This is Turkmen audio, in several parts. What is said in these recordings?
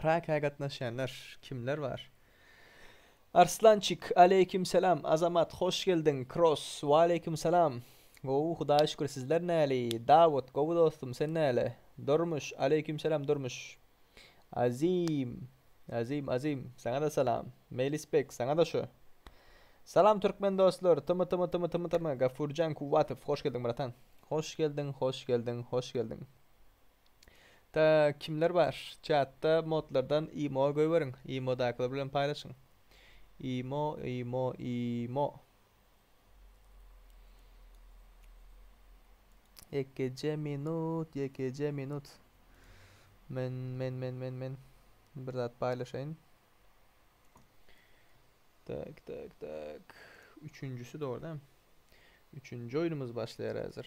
Praga gatnaşýanlar kimler bar? Arslançik aleýkim salam Azamat hoş geldiň Kross waleýkim salam Gowy Hudaýa şükür sizler näli Dawut gowy dostum sen näle Durmuş aleýkim salam Durmuş Azim Azim Azim saňa-da salam Meýlisbek saňa-da şu Salam türkmen dostlar Tymy tymy tymy tymy tymy Gafurjan Kuwwatow hoş geldiň bratan Hoş geldiň hoş geldiň hoş geldiň Da kimler bar çatda modlardan imo goýberiň imo dakylar bilen paýlaşyň imo imo imo Ýekeje minut ýekeje minut Men men men men men bir zat paýlaşaýyn Tak tak tak üçünjisi dogry däm üçünji oýnumyz başlaýar häzir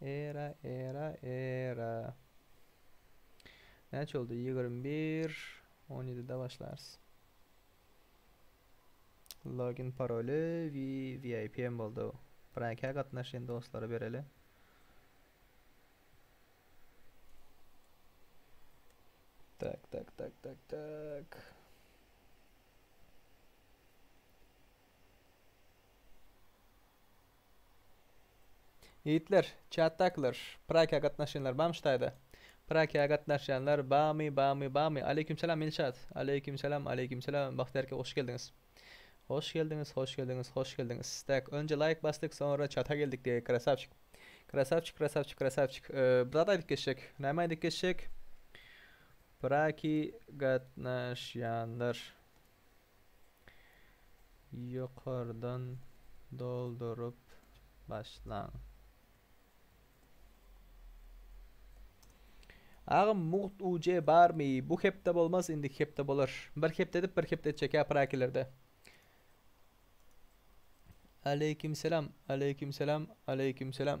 Era, era, era. Näçe oldu? 21, 17-de başlarys. Login paroli we VIP hem boldu. Praka gatnaşýan dostlara bereli. Tak, tak, tak, tak, tak. Ýigitler, çatdakylar, Prakiýa gatnaşýanlar bamy şu taýda? Prakiýa gatnaşýanlar bamy, bamy, bamy? Aleýkim salam, Ilşat! Aleýkim salam, aleýkim salam, Bagtyýar eke hoş geldiňiz! Hoş geldiňiz, hoş geldiňiz, hoş geldiňiz! Tak, önje laýk basdyk, soňra çata geldik diýeli, krasawçik! Krasawçik, krasawçik, krasawçik! Bir zat aýdyp geçjek. Näme aýdyp geçjek? Praki gatnaşýanlar. ýokardan dolduryp başlaň. Agam mugt UC barmy? Bu hepde bolmaz, indiki hepde bolar. Bir hepde edip, bir hepde etjek aprakilerde. Aleyküm selam, aleyküm selam, aleyküm selam.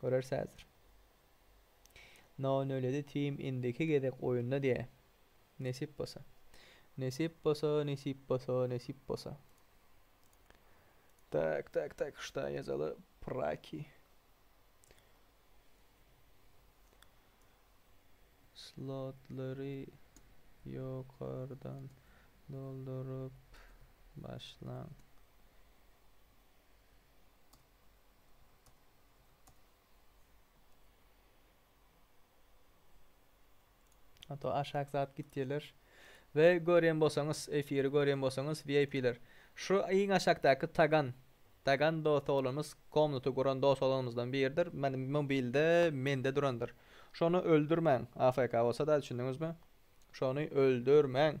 Göreris häzir. No nöledi team indiki gezek oýunda diýä. Nesip bolsa. Nesip bolsa, nesip bolsa, nesip bolsa. Tak, tak, tak, şda ýazaly praki. Slotlary ýokardan dolduryp başlaň. Hato aşak zat gitýeler. We görýän bolsaňyz, efiri görýän bolsaňyz VIP-ler. Şu iň aşakdaky Tagan, Tagan dos oglanymyz komnaty guran dos oglanymyzdan biridir. Men mobilde mende durandyr. Şony öldürmäň, AFK bolsa-da düşündiňizmi? Şony öldürmäň.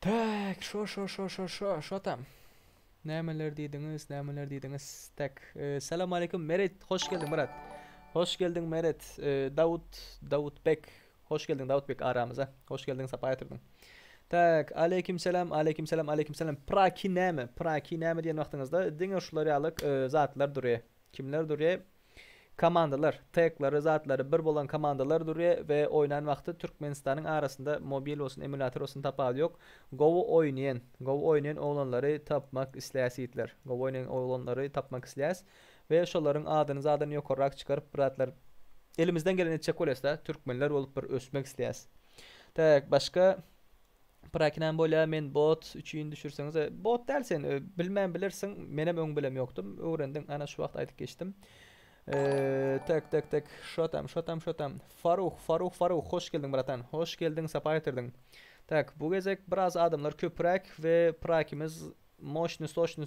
Tak, şo şo şo şo şo şo tam. Nämeler diýdiňiz, nämeler diýdiňiz? Tak, e, salam aleykum Meret, hoş geldiň Meret. Hoş geldiň Meret. E, Dawut, Dawut Bek, Hoş geldiň Dawutbek aramyza. Hoş geldiň sapa getirdiň. Tak, aleýkim salam, aleýkim salam, aleýkim salam. Praki näme? Praki näme diýen wagtyňyzda diňe şular ýaly zatlar durýa. Kimler durýa? Komandalar, teklary, zatlary bir bolan komandalar durýa we oýnan wagty Türkmenistanyň arasynda mobil bolsun, emulator bolsun tapawudy ýok. Gowy oýnaýan, gowy oýnaýan oglanlary tapmak isleýäs ýigitler. Gowy oýnaýan oglanlary tapmak isleýäs. we şolaryň adyny zadan ýokarrak çykaryp bir zatlar elimizden geleni etjek bolýasda türkmenler bolup bir ösmek isleýäs tak başga Prakinam bolýa men bot üçin düşürseňiz bot däl sen bilmän bilirsiň menem öň bilem ýokdum öwrendim ana şu wagt aýdyp geçdim Eee, tak tak tak şo tam şo tam şo tam Faruh Faruh Faruh hoş geldiň bratan hoş geldiň sapa getirdiň Tak bu gezek biraz adamlar köpräk we prakimiz moşny soşny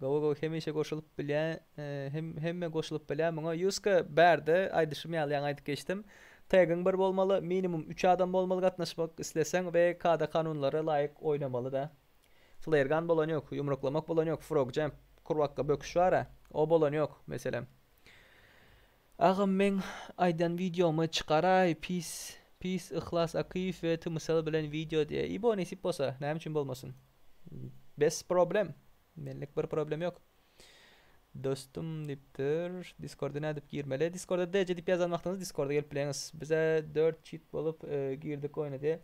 Gowy gowy hemişe goşulyp bilýä hemme goşulyp bilýä muňa Ýuska bärde aýdyşym ýaly ýaňy aýdyp geçdim Tegiň bir bolmaly minimum üç adam bolmaly gatnaşmak isleseň we kada kanunlara laýyk oýnamaly da Flare gun bolan ýok ýumruklamak bolan ýok frog jump kurbakka böküş bara o bolan ýok meselem Agam meň aýdan wideomy çykaraý pis pis Yhlas Akyýew we Tymysal bilen wideo diýe ibo nesip bolsa näme üçin bolmasyn bes problem menlik bir problem ýok Dostum diýipdir diskorda nädip girmeli diskorda DC diýip ýazan wagtyňyz diskorda gelip bileňiz bize dört çit bolup girdik oýna diýe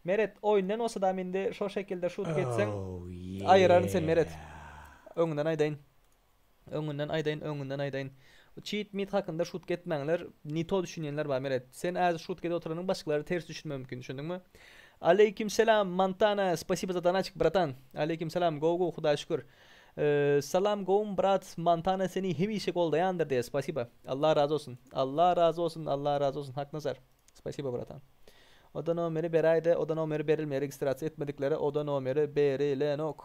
Meret oýundan bolsadam indi şol şekilde şut geçseň aýyraryn seni Meret öňünden aýdaýyn. Öňünden aýdaýyn öňünden aýdaýyn. Çit mit hakynda şut getmäňler ne to düşünýänler bar meret sen äzi şut gedip oturanyň başgalary ters düşünme mümkin düşündiňmi Aleýkim selam Montana spasibo za donaçik bratan Aleýkim selam gowy gowy hudaýa şükür Salam gowym brat Montana seni hemişe goldaýandyr diýe spasibo Allah razy bolsun Allah razy bolsun Allah razy bolsun Haknazar spasibo bratan Oda nomeri beräýde oda nomeri berilmeýär registrasiýa etmediklere oda nomeri berilenok.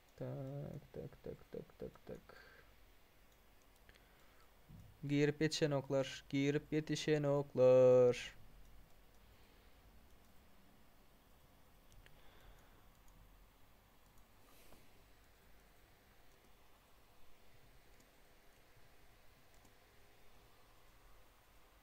Tak, tak, tak, tak, tak, tak. Girip yetişen oklar, girip yetişen oklar.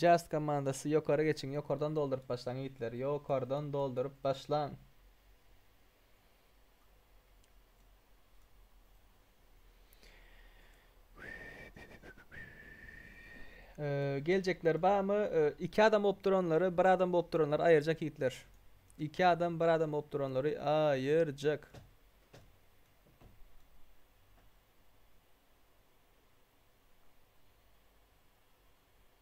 Just komandasy ýokary geçiň, ýokardan dolduryp başlaň ýigitler, ýokardan dolduryp başlaň. Ee, geljekler barmy? Ee, iki adam bolup duranlary, bir adam bolup duranlary aýyrjak ýigitler. İki adam, bir adam bolup duranlary aýyrjak.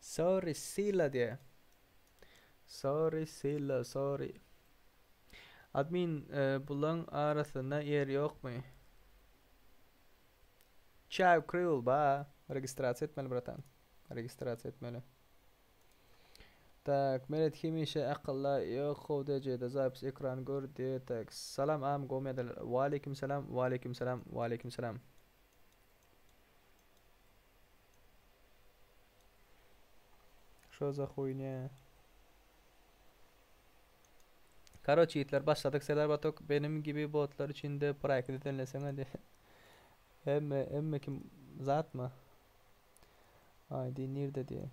Sorry Sila diye. Sorry Sila sorry. Admin e, bulan arasynda yer yok mu? Çav Crew ba. Registrasiya etmeli bratan. Registrasiya etmeli. Tak, Meret hemişe akylda ýok how dejede zapis ekran gördi tak. Salam am gomyadal Waleýkim salam Waleýkim salam Waleýkim salam. Şo za huýnýa. Karoç ýigitler başladyk Serdar Batok benim gibi botlar üçin de praýk düzenleseňä diýip. Hemme hemme kim zatmy? ID nirde diýen.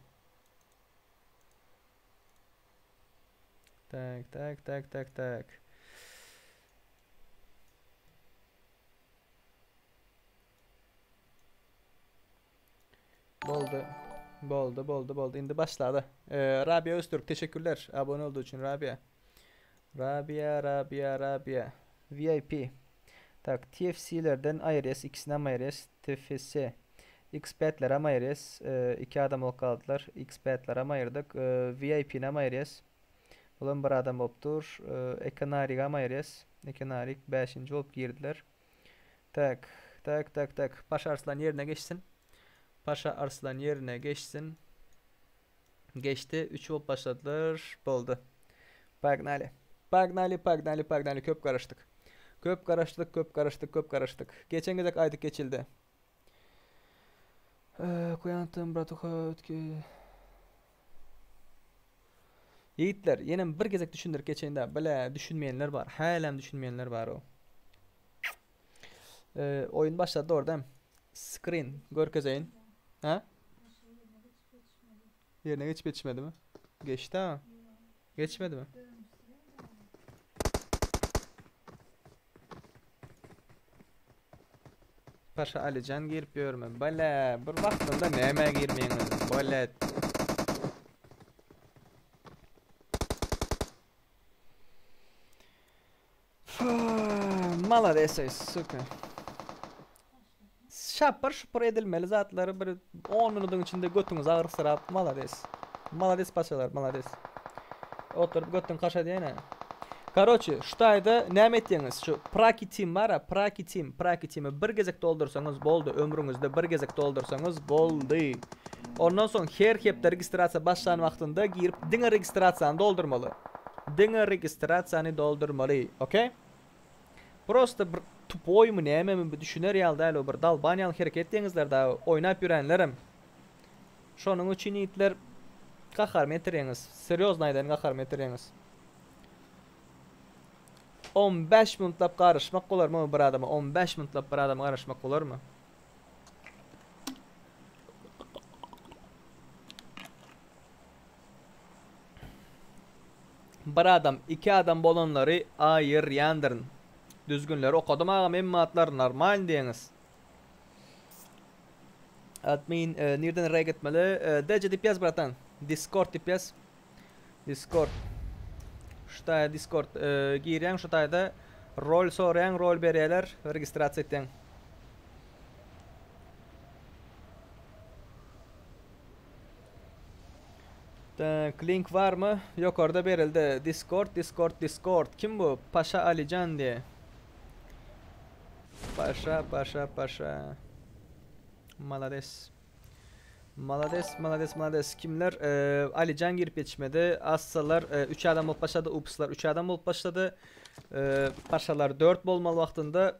Tak tak tak tak tak. Boldy. Boldy, boldy, boldy. Indi başlady. Ee, Rabia Öztürk teşekkürler. Abone olduğu için Rabia. Rabia Rabia Rabia VIP Tak TFC lerden aýyrýas ikisinäm aýyrýas TFC Xpad leram aýyrýas iki adam bolup galdylar Xpad leram aýyrdyk VIP näm aýyrýas bulam bir adam bolup dur Eke Narigam aýyrýas Eke Narik bäşinji bolup girdiler Tak Tak Tak Tak Paşa Arslan ýerine geçsin Paşa Arslan ýerine geçsin. Geçdi. 3 bolup başladylar. Boldy. Pognaly. Pognaly, pognaly, pognaly. Köp garaşdyk. Köp garaşdyk, köp garaşdyk, köp garaşdyk. Geçen gezek aýdyp geçildi. Ee, Kuýantym, bratuha, ötki. Ýigitler, ýenem bir gezek düşündirip geçeýin-de, bile düşünmeýänler bar. Hälem düşünmeýänler bar o. Ee, oýun başlady orda. Screen görkezeýin. Ha? Geçmedi. Ýerine geçip geçmedimi? Geçdi-ä. Geçmedimi? Paşa Alijan girip ýörme. Bala, bir wagtynda nämä girmeýin özüm. Bolet. Maladesoý suka. Şapyr şupur edilmeli zatlary bir on minudyň içinde götüňiz agyrsyrap malades. Malades paçalar malades. Oturyp götüň kaşadýaýna. Karoçi şu taýda näme etýeňiz şu praki tim bara praki tim praki timi bir gezek doldursaňyz boldy ömrüňizde bir gezek doldursaňyz boldy ondan soň her hepde registrasiýa başlan wagtynda girip diňe registrasiýany doldurmaly. Diňe registrasiýany doldurmaly ok. Prosta bir tupoýmy nämemi bu düşüner ýaly däl bu bir dalban ýaly hereket etýeňizler da oýnap ýörenlerem şonuň üçin ýigitler gaharymy ýetirýeňiz serýozny aýdaýyn gaharymy ýetirýeňiz on bäş minutlap garaşmak bolarmy bir adama on bäş minutlap bir adama garaşmak bolarmy Bir adam, iki adam bolanlary a yr ýandyryn. Düzgünleri okadym agam hemme atlar normal diýeňiz. Admin nirden reg etmeli? Deje dip yaz bratan. Discord dip yaz. Discord. Şu taýda Discord girýäň şu taýda rol soraýaň, rol berýärler, registrasiýa etýäň. Tak, link barmy? Ýokarda berildi. Discord, Discord, Discord. Kim bu? Paşa Alijan diýe. Paşa, paşa, paşa. Malades. Malades, malades, malades. Kimler? Ee, Alijan girip yetişmedi. Assalar, e, üç adam bolup başlady. Upslar üç adam bolup başlady. Ee, paşalar dört bolmaly wagtynda.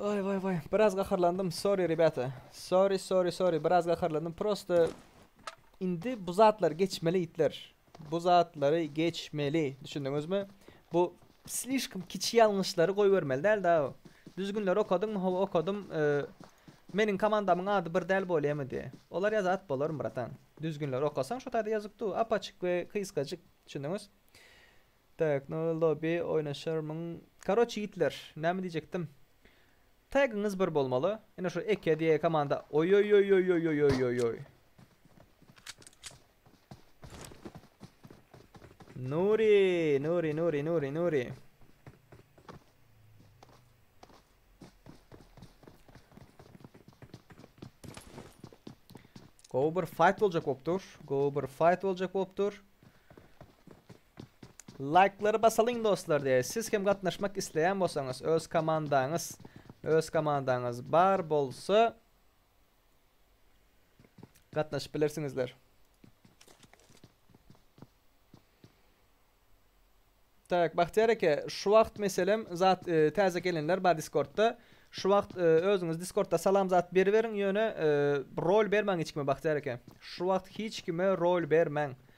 Waý waý waý biraz gaharlandym sorry rebýata sorry sorry sorry biraz gaharlandym prosta indi bu zatlary geçmeli itler bu zatlary geçmeli düşündiňizmi bu slişkom kiçi ýalňyşlary goýbermeli däl da düzgünleri okadyňmy hawa okadym meniň komandamyň ady bir däl bolýamy diýe olar ýazat bolar bratan düzgünleri okasaň şo taýda ýazyk du apaçyk we kysgajyk düşündiňiz Tak no lobi oýnaşarmyň karoç ýigitler näme diýjekdim tagyňyz bir bolmaly ine şu eke diýe komanda oýoýoýoýoýoýoýoýoýoýoý Nuri Nuri Nuri Nuri Nuri Gowy bir fight boljak bolup dur gowy bir fight boljak bolup dur Laýklary basalyň dostlar diýäý siz hem gatnaşmak isleýän bolsaňyz öz komandaňyz öz komandaňyz bar bolsa gatnaşyp bilersiňizler. Tak Bahtiýar eke şu wagt meselem zat e, täze gelenler bar Discordda. Şu wagt e, özüňiz Discordda salam zat beriberiň ýöne e, rol bermäň hiç kime Bahtiýar eke. Şu wagt hiç kime rol bermäň.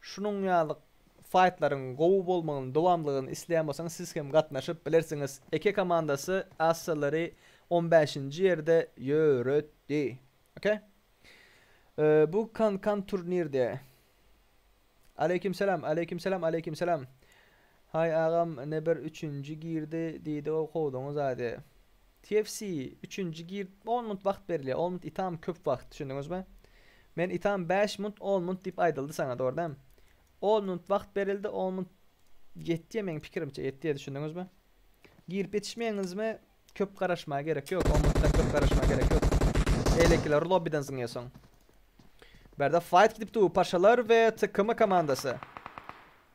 Şunuň ýaly faýtlaryň gowy bolmagyny, dowamlylygyny isleýän bolsaňyz siz hem gatnaşyp bilersiňiz. Eke komandasy Assalary on bäşinji ýerde ýöretdi. Oke. Bu kan kan turnirde. Aleýkim salam, aleýkim salam, aleýkim salam. Haý, agam, ine bir üçünji girdi, diýdi ol howlugyň zady. TFC, üçünji gir, on munt wagt berilýär, on munt itam köp wagt, düşündiňizmi? Men itam bäş munt, on munt diýip aýdyldy saňa, dogry däl? On munt wagt berildi, on munt ýetýär meň pikirimçe, ýetýär, düşündiňizmi? Girip ýetişmeýäňizmi, köp garaşmaga gerek ýok, on muntdan köp garaşmaga gerek ýok. Beýlekiler lobbiden zyňýarsyň. Bärde faýt gidip dur, Paşalar we TKM komandasy.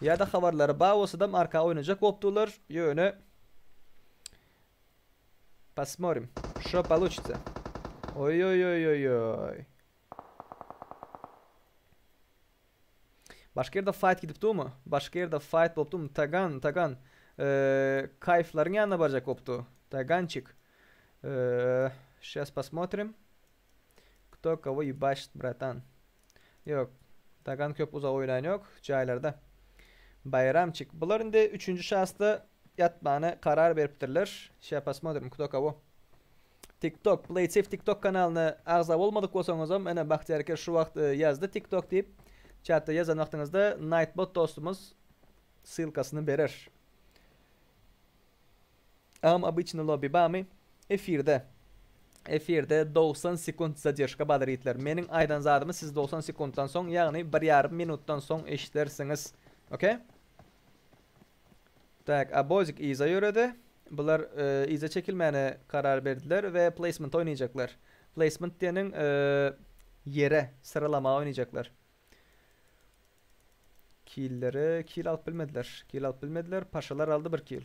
Ýada habarlary ba bolsadam arka oýnajak bolupdylar ýöne Posmorim şo paluçitsa. Oýoýoýoýoý. Başga ýerde fight gidip durmy? Başga ýerde fight bolup durmy? Tagan, Tagan. Kayflaryň ýanyna barjak bolupdy. Tagançik. Şas posmotrim. Kto kogo ýubaşit bratan. Ýok. Dagan köp uzak oýnaýan ýok jaýlarda. Baýramçik. Bular indi üçünji şasda ýatmana karar beripdirler. Şa posmodrim kto kogo. TikTok. Playtsev TikTok kanalyna agza bolmadyk bolsaňyzam ene Bahtyýar Kerş şu wagt ýazdy TikTok diýip. Çatda ýazan wagtyňyzda Nightbot dostumyz ssylkasyny berer. Agam obyçny lobby bamy efirde efirde dogsan sekunt zadeşka badyr itler meniň aýdan zadymy siz dogsan sekuntdan soň ýagny bir ýarym minutdan soň eşdersiňiz ok. Tak Abozik yza ýöredi bular yza çekilmäne karar berdiler we placement oýnaýjaklar placement diýeniň ýere syralama oýnaýjaklar killere kill alyp bilmediler kill alyp bilmediler paşalar aldy bir kill.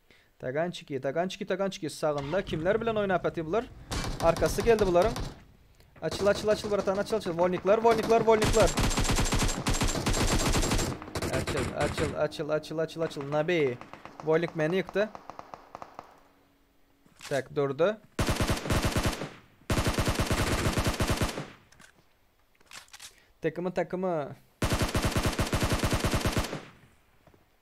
Tagançiki, tagançiki, tagançiki. Sagynda kimler bilen oýnap ýatyr bular? Arkasy geldi bularyň. Açyl, açyl, açyl bratan, açyl, açyl. Wolniklar, wolniklar, wolniklar. Açyl, açyl, açyl, açyl, açyl, açyl. Nabi. Wolnik meni ýykdy. Tak, durdy. Takımı, takımı.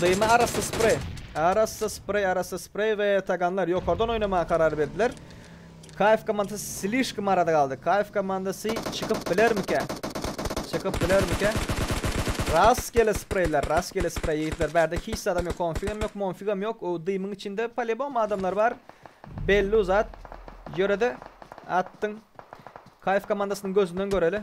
Dymy arassa spreý. Arassa spreý, arassa spreý we taganlar ýokardan oýnamaga karar berdiler. KF komandasy slişkom arada galdy. KF komandasy çykyp bilermikä? Çykyp bilermikä? Rastgele spreýler, rastgele spreý ýigitler. Bärde hiç zadam ýok, konfigam ýok, monfigam ýok. O dymyň içinde polibom adamlar bar. Bellu zat. Ýörede atdyň. KF komandasynyň gözünden göreli.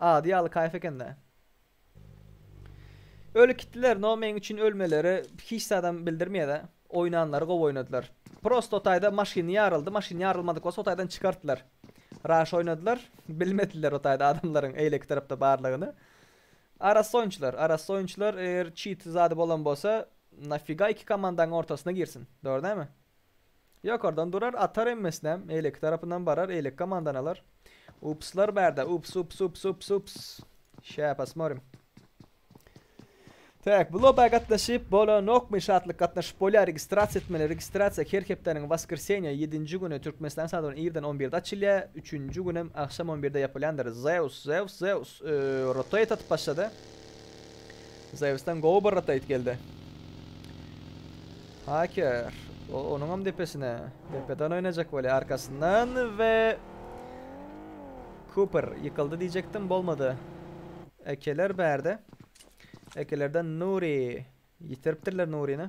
Ady ýaly kaýf ekende. Öli kitdiler no meň üçin ölmeleri hiç zadam bildirmeyada oýnanlary gowy oýnadylar prosto o taýda maşyny ýaryldy maşyny ýarylmadyk bolsa o taýdan çykartdylar raş oýnadylar bilmediler o taýda adamlaryň eýleki tarapda barlygyny arassa oýunçylar arassa oýunçylar eger çit zady bolan bolsa nafiga iki komandaň ortasyna girsin dogry dälmi. Ýokardan durar, atar emmesinem, eýleki tarapyndan barar, eýleki komandan alar. Upslar bärde, ups, ups, ups, ups, ups. Şä posmorim. Tak, bu loba gatnaşyp bolanokmy, şatlyk gatnaşyp bolýar, registrasiýa etmeli, registrasiýa her hepdäniň waskrsenýa, ýedinji güni, türkmenistan sagat bilen irden on birde açylýar, üçünji günem agşam on birde ýapylýandyr, zeus, zeus, zeus, ööö, rotate atyp başlady. Zeusdan gowy bir rataýt geldi. Haker. O, onuňam depesine. Depeden oýnajak bolýar arkasyndan we Cooper ýykyldy diýjekdim, bolmady. Ekeler bärde. Ekelerden Nuri. Ýitiripdirler Nurini.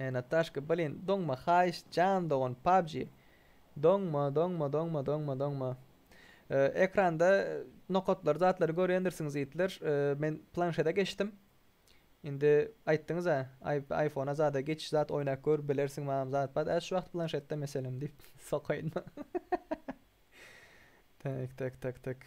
E Nataşka blin doňma haýyş jan dogan pubg doňma doňma doňma doňma doňma e, ekranda nokatlary zatlary görýändirsiňiz ýigitler e, men planşede geçdim indi aýtdyňyz a iPhone-a zada geçiş zat oýnap gör bilersiň mam zat bat ä şu wagt planşetde meselem diýip sokaýynma tak tak tak tak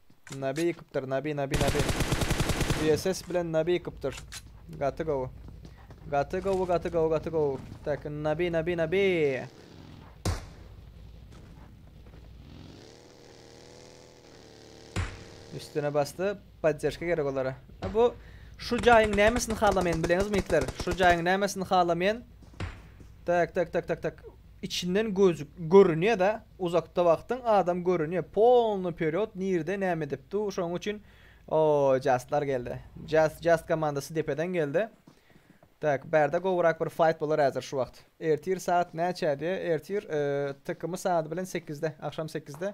Nabi ykypdyr nabi nabi nabi. VSS bilen nabi ykypdyr. Gaty gowy. Gaty gowy gaty gowy gaty gowy. Tak nabi nabi nabi. Üstüne bastı. Podderşka gerek olara. Ha bu şu jaýyň nämesini halamaýan bileňizmi itler? Şu jaýyň nämesini halamaýan? Tak tak tak tak tak. Içinden gözük görünýada uzakda wagtyň adam görünýä polny perýod nirde näme edip du şoň üçin oo jaslar geldi jas jas komandasy depeden geldi tak bärde gowyrak bir fayt bolar häzir şu wagt ertir saat näçä diýä ertir tykmy saat bilen sekizde agşam sekizde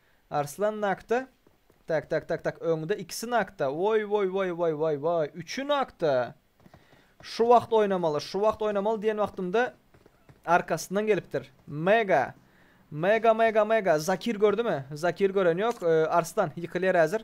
Arslan nakda? Tak tak tak tak öňde ikisi nakda woý woý woý woý woý woý üçi nakda şu wagt oýnamaly şu wagt oýnamaly diýen wagtymda arkasyndan gelipdir mega mega mega mega zakir gördümi zakir gören ýok Arslan ýykylýar häzir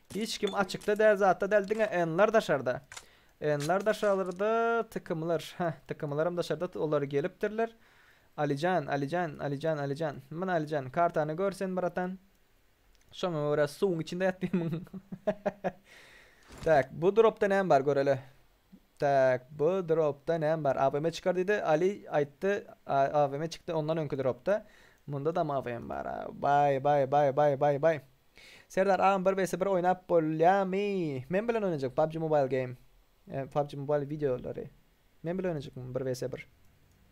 Hiç kim açykda däl zatda däl diňe enlar daşarda enlar daşarda tykymlar hä tykymlaram daşarda olar gelipdirler Alijan Alijan Alijan Alijan mına Alijan kartany gör sen bratan şoňa görä suwuň içinde ýat diýmn tak bu dropda näme bar göreli. Tak, bu dropda näme bar? AVM çykar diýdi, Aly aýtdy, AVM çykdy ondan öňki dropda. Mundadam AVM bar. Baý, baý, baý, baý, baý, baý. Serdar agam bir vs bir oýnap bolýamy? Men bilen oýnajak PUBG Mobile game. PUBG Mobile wideolary. Men bilen oýnajak bir vs bir.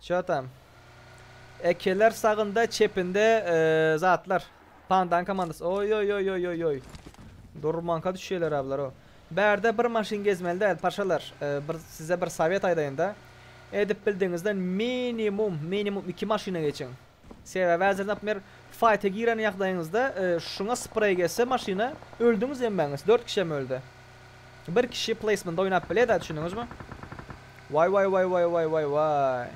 Ço tam. Ekeler sagynda çepinde zatlar. Pandan komandasy. Oýoýoýoýoýoý. Durmanka düşýeler ablaro. Bärde bir maşyn gezmeli däl paşalar. Bir size bir sowet aýdaýynda. Edip bildigiňizden minimum minimum iki maşyna geçiň. Sebäbi häzir naprimýer faýta giren ýagdaýyňyzda şuňa spreý geçse maşyna öldüňiz hemmäňiz, dört kişem öldi. Bir kişi pleýsmende oýnap bileda düşündiňizmi? Waý waý waý waý waý waý waý.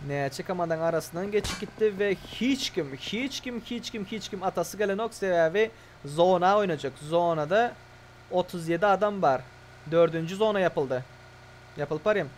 Näçe komandaň arasyndan geçip gitdi we hiç kim hiç kim hiç kim hiç kim atasy gelenok sebäbi zona oýnajak zonada otuz ýedi adam bar dördünji zona ýapyldy ýapylyp barýan.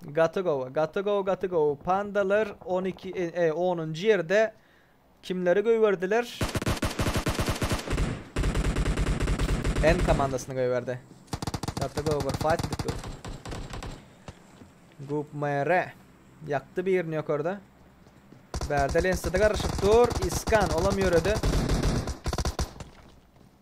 Gaty gowy gaty gowy gaty gowy pandalar on iki e onunjy ýerde kimleri göýberdiler N komandasyny göýberdi gaty gowy bir fight edip dur Gup mere ýakdy birini ýokarda Bärde lensada garyşyp dur iskan olam ýöredi.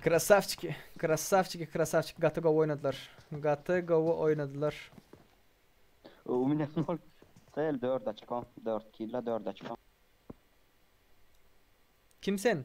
Krasavçiki, krasavçiki, krasavçiki gaty gowy oýnadylar. Gaty gowy oýnadylar. Öwüm ine nol Sel dört oçko, dört killa, dört oçko. Kim sen?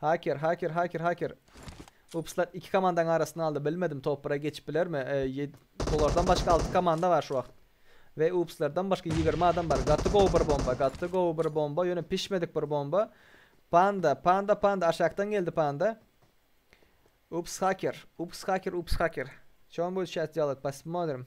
Haker haker haker haker. Upslar iki komandaň arasyny aldy bilmedim top bire geçip bilermi e, bulardan başga alty komanda bar şu wagt. Ve upslardan başga ýigrimi adam bar gaty gowy bir bomba gaty gowy bir bomba ýöne pişmedik bir bomba. Panda panda panda aşakdan geldi panda. Ups haker ups haker ups haker. Çon bolşat dialog pasmodrim.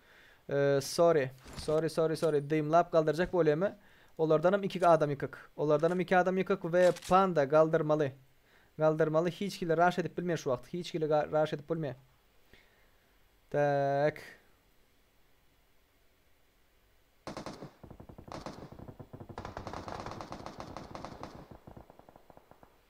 Sorry. Sorry sorry sorry dymlap galdyrjak bolýamy olardanam ikik adam ýykyk olardanam iki adam ýykyk we panda galdyrmaly galdyrmaly hiç hili raş edip bilmýär şu wagt hiç hili raş edip bolmýar tak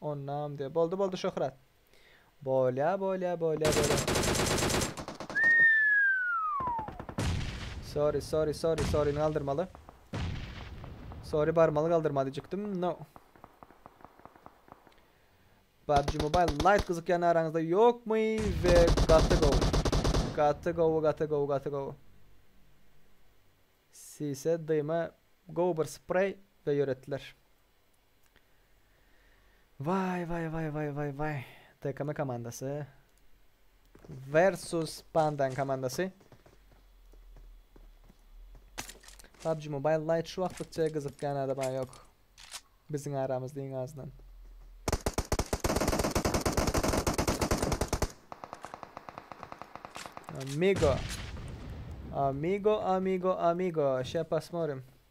Onam diýer. Boldy boldy Şöhrat. Bolýa bolýa bolýa bolýa. Sorry sorry sorry sorry ni galdyrmaly. Sorry barmaly galdyrma diýjekdim. No. PUBG Mobile Lite gyzykýan araňyzda ýokmy we gaty gowy. Gaty gowy gaty gowy gaty gowy. Sise dyma gowy bir spreý we ýöretdiler. Waý waý waý waý waý waý. TKM komandasy versus Pandan komandasy. PUBG Mobile Lite şu wagtlykça gyzykýan adam ha ýok. Biziň aramyzda iň azyndan. Amigo. Amigo, amigo, amigo. Şe pasmorim.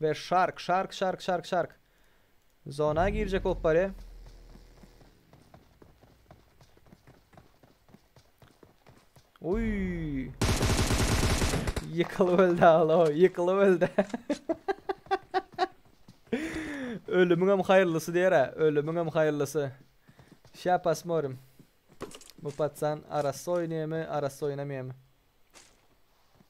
We shark shark shark shark shark Zona girjek bolup barýa. Uy. Ýykylyp öldi alo, ýykylyp öldi. Ölümiňem haýyrlysy diýer-ä, ölümiňem haýyrlysy. Şa pasmorim. Bu patsan arassa oýnaýamy, arassa oýnamaýamy.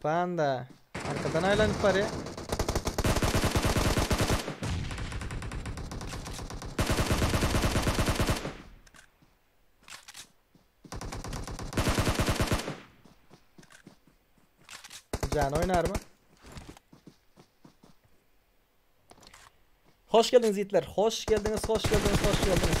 Panda. Arkadan aýlanyp barýa. Jany oýnarmy? Hoş geldiňiz ýigitler. Hoş geldiňiz, hoş geldiňiz, hoş geldiňiz.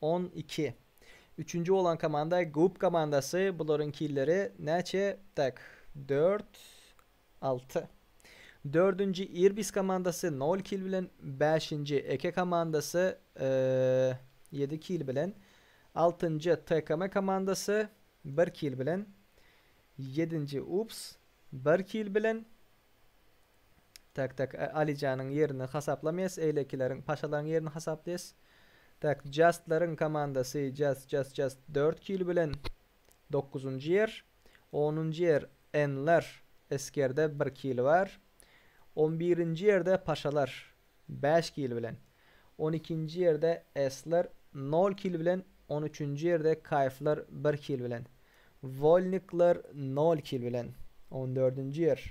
On iki. Üçünji bolan komanda Gub komandasy, bularyň killeri näçe? Tak, dört, alty. Dördünji Irbis komandasy nol kil bilen, bäşinji Eke komandasy ýedi kil bilen, altynjy TKM komandasy bir kil bilen, ýedinji Ups bir kil bilen, Tak tak Alijanyň ýerini hasaplamyas eýlekileriň paşalaryň ýerini hasaplaýas tak Jastlaryň komandasy Jast Jast Jast dört kil bilen dokuzynjy ýer onunjy ýer Enler Eskerde bir kil bar on birinji ýerde Paşalar bäş kil bilen on ikinji ýerde Esler nol kil bilen on üçünji ýerde Kaýflar bir kil bilen Wolnikler nol kil bilen on dördünji ýer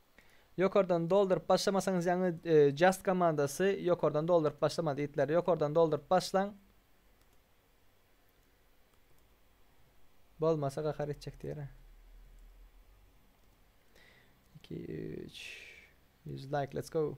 Ýokardan dolduryp başlamasaňyz ýaňy just komandasy ýokardan dolduryp başlamaz itler ýokardan dolduryp başlaň bolmasa gahar etjek diýer a. 2 3 100 like let's go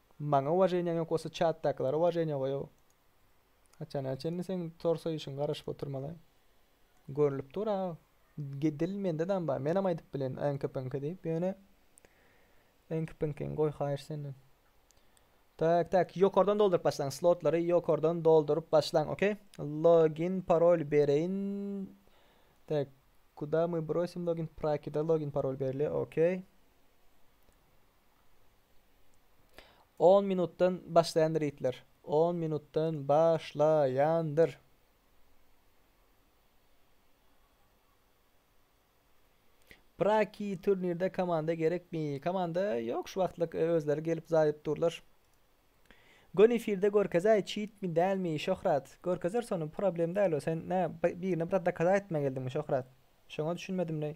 Maňa uwaženýaň ýok bolsa çatdakylara uwaženýa goýaw. Haçana çenli seň tor soýuşyňy garaşyp oturmaly. Görlüp dur aga. Dil mende dam bar. Menem aýdyp bilen äňki pyňky diýip ýöne äňki pyňkyňy goý haýyş senden. Tak tak ýokardan dolduryp başlaň slotlary ýokardan dolduryp başlaň okey. Login parol bereýin. Tak kuda my brosim login prakida login parol berli okey. On minutdan başlaýandyr ýitler. On minutdan başlaýandyr. Praki turnirde komanda gerekmi? Komanda ýok şu wagtlyk e, özleri gelip zaýyp durlar. Gön efirde görkezäý çitmi dälmi Şöhrat. Görkezer sonu problem däl o sen nä birine bir dakada etmä geldiňmi Şöhrat. Şoňa düşünmedim neý.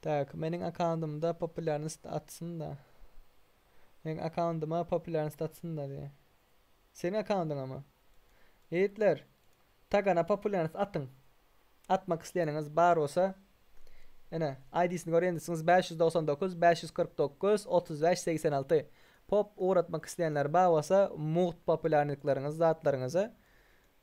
Tak, meniň akkauntymda populýarnyst atsyn-da. Meniň akkauntyma populýarnyst atsyn-da diýýär. Seniň akkauntyňamy? Ýigitler, Tagana populýarnyst atyň. Atmak isleýäniňiz bar bolsa, ene, ID-sini görýän diýseňiz, bäş ýüz togsan dokuz, bäş ýüz kyrk dokuz, otuz bäş, segsen alty. Pop ugratmak isleýänler bar bolsa, mugt populýarnykleriňizi, zatlaryňyzy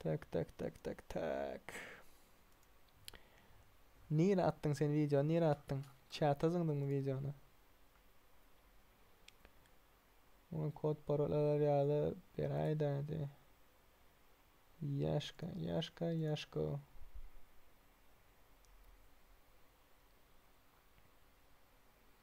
Tak tak tak tak tak. Nire atdyň sen video? Nire atdyň? Çata zyňdyňmy videony? Oňa kod parolalar ýaly beräýdä hadi. Ýaşka, ýaşka, ýaşko.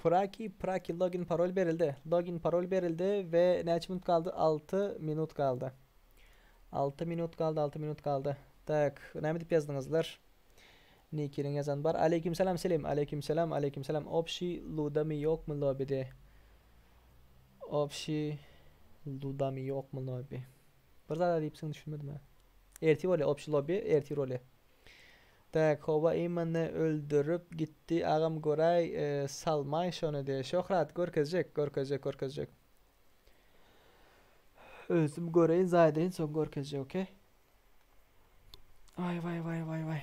Praki praki login parol berildi. Login parol berildi we näçe minut galdy? 6 minut galdy. 6 minut galdy, 6 minut galdy. Tak, näme diýip ýazdyňyzlar? Nikiniň ýazan bar. Aleýkim salam Selim. Aleýkim salam, aleýkim salam. Obşi ludami ýokmy lobide? Obşi ludami ýokmy lobi? Bir zada diýipsiň düşünmedim-ä. Ertir bolýa opşy lobby ertir bolýa. Tak howa imany öldürip gitdi agam göräý e, salmaý şony de şöhrat görkezjek görkezjek görkezjek. Ölsüm göreýin zaýdaýyn soň görkezjek okey. Vay vay vay vay vay.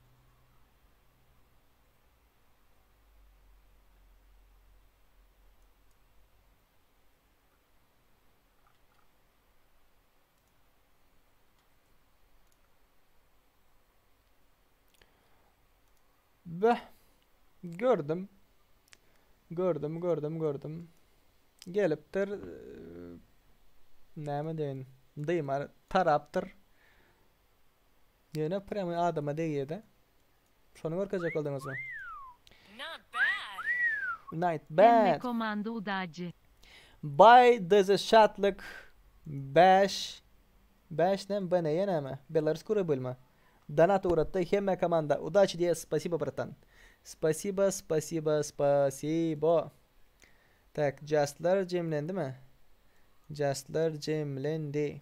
Beh. Gördüm. Gördüm, gördüm, gördüm. Gelipdir. Ee, Näme deýin? Dyma tarapdyr. Ýöne prýamoý adama degýädä. Şony görkezjek bolduňyzmy? Not bad. Night Hemme bad. komanda udaci. Baý deze şatlyk bäş bäş näme bne ýa näme belarus kura bölme donat ugratdy hemme komanda udaci diýýä spasibo bratan spasibo spasibo spasibo tak jastlar jemlendimi jastlar jemlendi.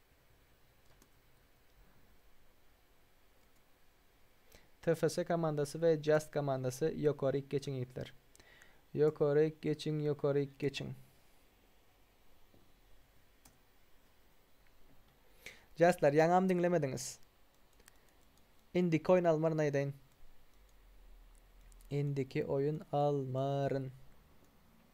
TFS komandasy we Just komandasy ýokaryk geçiň ýigitler. Ýokaryk geçiň ýokaryk geçiň. Justlar ýaňam diňlemediňiz. Indiki oýun almaryn aýdaýyn. Indiki oýun almaryn.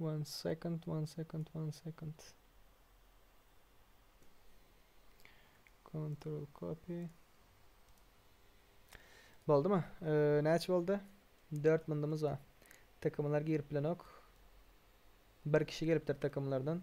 One second, one second, one second. Control copy. Boldu mu? Ee, näçe boldu? 4 mındymız var. Takımlar girip bilenok. Bir kişi gelipdir takımlardan.